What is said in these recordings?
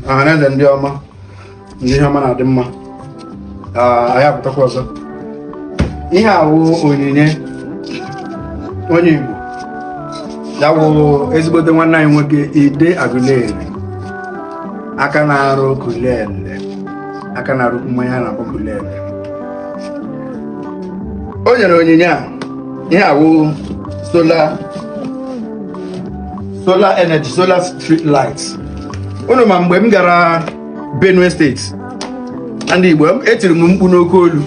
ọhaneze ndị ọma ndị ihe ọma na-adị mma anyị apụtakwa ọzọ ihe a wụ onyinye onye Igbo ya wụ ezigbote nwanne anyị nwoke Ide Aguleri aka na-arụ kulele aka na-arụ mmanya a na-akpọ kulele o nyere onyinye a ihe a wụ solar solar energy solar street lights unu ma mgbe m gara benue steeti na ndị igbo etiri m mkpu n'oke olu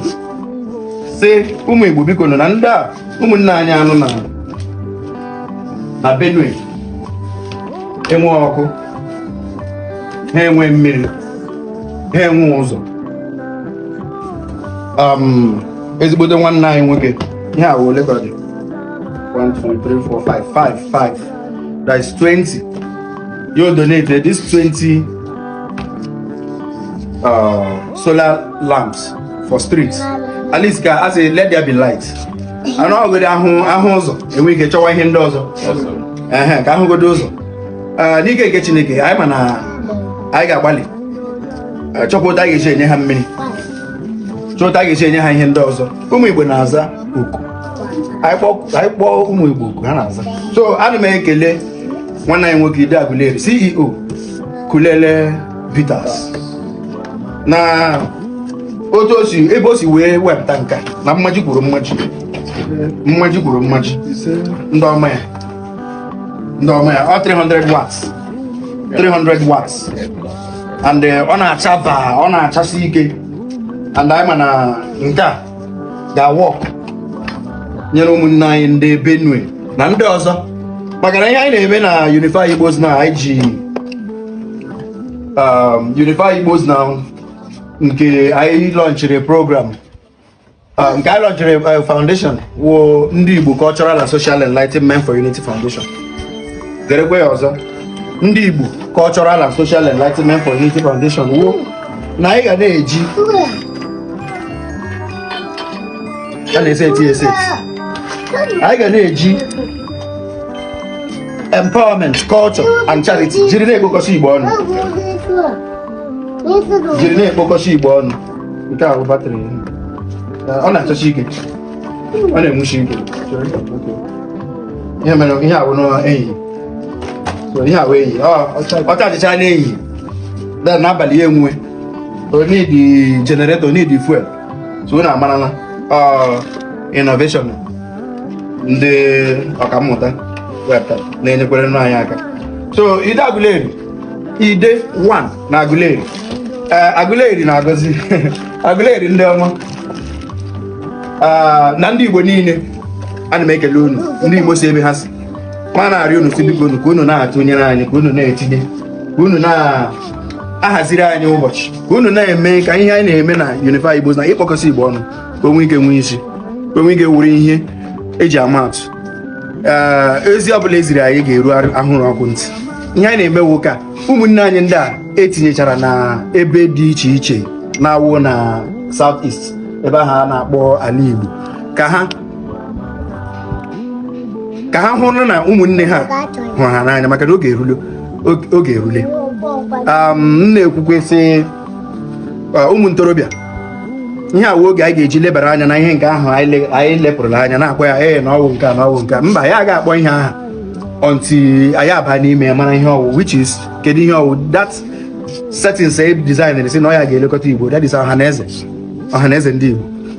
sị ụmụ igbo bikonụ na ndị a ụmụnne anyị a nọ na benue enwe ọkụ ha enwe mmiri ha enwe ụzọ um, ezigbote nwanne anyị nwoke ihe a ole ka ọ dị 1 2 3 4 5 5 5 that is 20 you donated this 20 uh, solar lamps for streets at least ka a sị let there be light a nọgodi ahụ ahụ ụzọ e nwee ike chọwa ihe ndị ọzọ ehe ka a hụgodu ụzọ uh, n'ike nke chineke anyị ma na anyị ga-agbalị uh, chọkwa otu a ga-eji enye ha mmiri chọọ otu a ga-eji enye ha ihe ndị ọzọ ụmụ igbo na-aza oku anyị kpọọ ụmụ igbo oku ha na-aza so ana m ekele nwanne anyị nwoke Ide Aguleri CEO Kulele Bitters na otu o si ebe o si wee wepụta nke a na mmaji kwuru mmaji mmaji kwuru mmaji ndị ọma ya ndị ọma ya ọ 300 watts 300 watts and eh, ọ na-acha baa ọ na-achasi ike and anyị ma na nke a ga-awọk nyere ụmụnne anyị ndị Benue na ndị ọzọ maka na ihe anyị na-eme na Unify Igbos na anyị ji um, Unify Igbos na nke anyị lọnchịrị program uh, nke anyị lọnchịrị uh, foundation wụ ndị Igbo Cultural and Social Enlightenment for Unity Foundation gerekwe ya ọzọ ndị Igbo Cultural and Social Enlightenment for Unity Foundation wụ na anyị ga na-eji a na-eseti eseti anyị ga na-eji empowerment culture and charity jiri na-ekpokọsị igbo ọnụ jiri na-ekpokọsị igbo ọnụ nke a bụ batrị ọ na-achasi ike ọ na-enwusi ike ihe mere ihe a bụ n'enyi ihe a wụ ehihie ọ chajịcha n'ehihie then n'abalị ya enwuwe o needi generator o needi fuel so unu amarala innovation ndị ọkammụta wepụtara na-enyekwere nụ anyị aka so ide agụleri ide 1 na agụleri eh, agụleri na-agọzi agụleri ndị ọma ah, na ndị igbo niile ana m ekele unu ndị igbo si ebe ha si ma na-arịọ unu sị biko unu ka unu na-atụnyere anyị ka unu na-etinye ka unu na-ahaziri anyị ụbọchị ka unu na-eme ka ihe anyị na-eme na Unify Igbo na ịkpọkọsị Igbo ọnụ ka o nwee ike nwee isi ka o nwee ike wụrụ ihe eji ama atụ ezi ọ bụla eziri anyị ga-eru ahụrụ ọkụ ntị ihe anyị na-eme wụ ka ụmụnne anyị ndị a etinyechara na ebe dị iche iche na-awụ na South East ebe ahụ a na-akpọ ala Igbo ka ha ka ha hụrụ na ụmụnne ha hụrụ ha n'anya maka na oge erule oge erule m na-ekwukwe sị ụmụ ntorobịa ihe a wụ oge anyị ga-eji lebara anya na ihe nke ahụ anyị lepụrụla anya na-akpọ ya ee na ọ wụ nke a na ọ wụ nke a mba ya ga akpọ ihe aha until anyị aba n'ime ya mara ihe ọ wụ which is kedu ihe ọ wụ that settings e design sị na ọ ya ga-elekọta igbo that is ọhaneze ọhaneze ndị igbo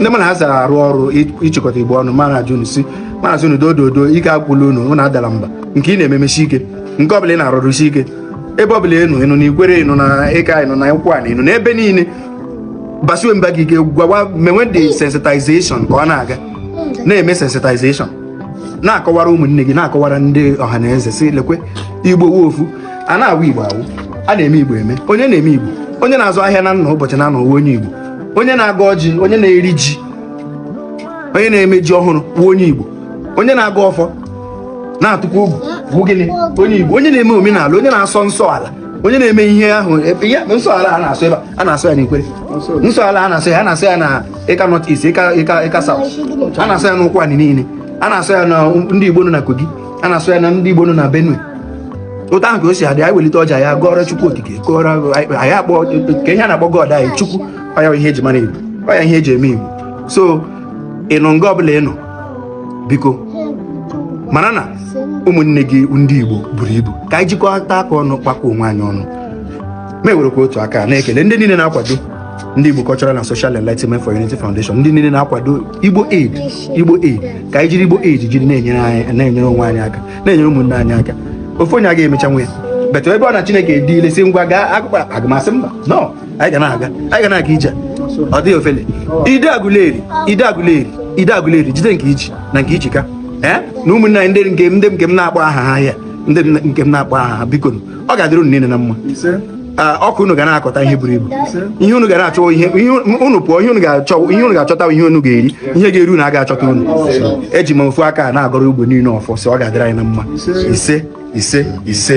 ndị mụ na ha so arụ ọrụ ịchịkọta igbo ọnụ ma na-arịọ unu sị ma na-arịọ unu dododo ike agwụla unu unu adala mba nke ị na-eme mesie ike nke ọbụla ị na-arụ rụsie ike ebe ọbụla ị nọ ị nọ na ikwere ị nọ na ịka ị nọ na ụkwụanị ị nọ na ebe niile gbasiwe mbọ gị ike gwawa mewe the sensitization ka ọ na-aga na-eme sensitization na-akọwara ụmụnne gị na-akọwara ndị ọha na eze sị lekwe igbo wụ ofu a na-awụ igbo awụ a na-eme igbo eme onye na-eme igbo onye na-azụ ahịa na nna ụbọchị na anọ onye igbo onye na-agọ ọjị onye na-eri ji onye na-eme ji ọhụrụ bụ onye Igbo onye na-agọ ọfọ na-atụkwa ogu bụ gịnị onye Igbo onye na-eme omenala onye na-asọ nsọ ala onye na-eme ihe ahụ ihe nsọ ala a na-asọ ebe a na-asọ ya n'Ikwere nsọ ala a na-asọ ya a na-asọ ya na Ịka North East Ịka Ịka Ịka South a na-asọ ya n'Ụkwụanị niile a na-asọ ya na ndị Igbo nọ na Kogi a na-asọ ya na ndị Igbo nọ na Benue otu ahụ ka o si adị anyị welite ọjị anyị agọọrọ Chukwu okike gọọrọ anyị akpọ ka ihe a na-akpọ God anyị Chukwu ọ ya ihe eji mara Igbo ọ ya ihe eji eme Igbo so ị nọ nga ọbụla ị nọ biko mara na ụmụnne gị ndị Igbo buru ibu ka anyị jikọta aka ọnụ kpakọọ onwe anyị ọnụ ma ewerekwa otu aka na-ekele ndị niile na-akwado ndị Igbo Cultural and Social Enlightenment for Unity Foundation ndị niile na-akwado igbo aid igbo aid ka anyị jiri igbo aid jiri na-enyere anyị na-enyere onwe anyị aka na-enyere ụmụnne anyị aka ofu onye aga emecha nwe ya but ebe ọ na chineke dị ile si ngwa gaa akụkọ agụmasị mba no anyị ga na-aga anyị ga na-aga ije ọ dịghị ofele ide agụleri ide agụleri ide agụleri jide nke i ji na nke i ji ka ee na ụmụnne anyị ndị nke m na-akpọ aha ha ya ndị nke m na-akpọ aha ha biko ọ ga-adịrị unu niile na mma ọkụ unu ga na-akọta ihe buru ibu ihe unu ga na-achọ ihe unu pụọ ihe unu ga-achọ ihe unu ga-achọta ihe unu ga-eri ihe ga-eri unu aga achọta unu eji m ofu aka na-agọrọ igbo niile ọfọ sị ọ ga-adịrị anyị na mma ise ise ise